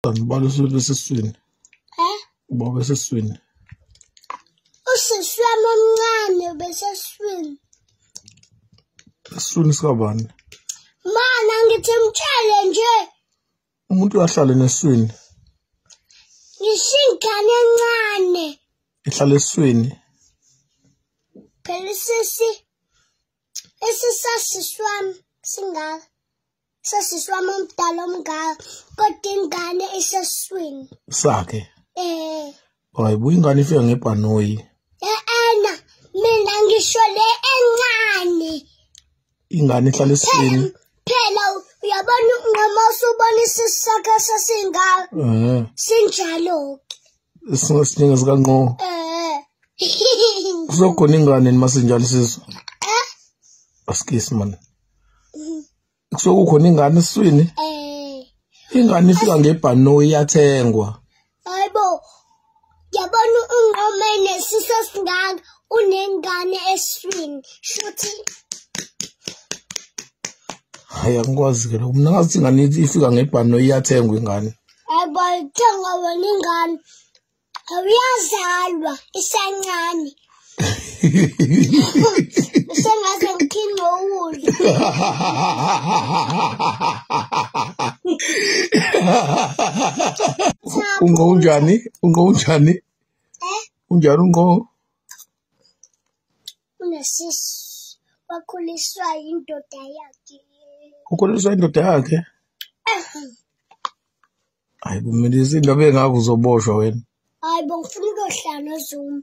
Ngibona usuthi esiswini. Eh? Ubaba esiswini. Usisi wami omncane ubeseswini. Esiswini sikabani? Mana ngithi mtshele nje. Umuntu uyahlala neswini. Ngishingane encane. Ihlala eswini. Phela sisi esisasiswami singaka. sesisi wami omdala omngaka kodwa ingane iseswini sakhe eh hayi buyi ingane ifika ngebhanoyi eena mina ngisho le encane ingane ihlala eswini phela uyabona unqoma usubona isisi sakhe sesingaka eh sinjalo singesinye sikanqo eh kuzokhona ingane masinjalo sizwe eh askisi manje kusuke kukhona ingane eswini eh. ingane ifika ngebhanoyi iyathengwa hayibo yabona unqome nesiso singaka unengane eswini shuthi hayi angikwazi ke lokho mina ngathi ingane ifika ngebhanoyi iyathengwa ingane hayibo ithenga wena ingane awuyazalwa isancane sengaze ngithinde ukudla unqo unjani unqo unjani eh? unjani unqo unesisu wakhuliswa yindoda yakhe ukhuliswa indoda yakhe Hayi kumilisa into bengakho uzoboshwa wena. Hayi bongifuna ukuyohlala noZuma.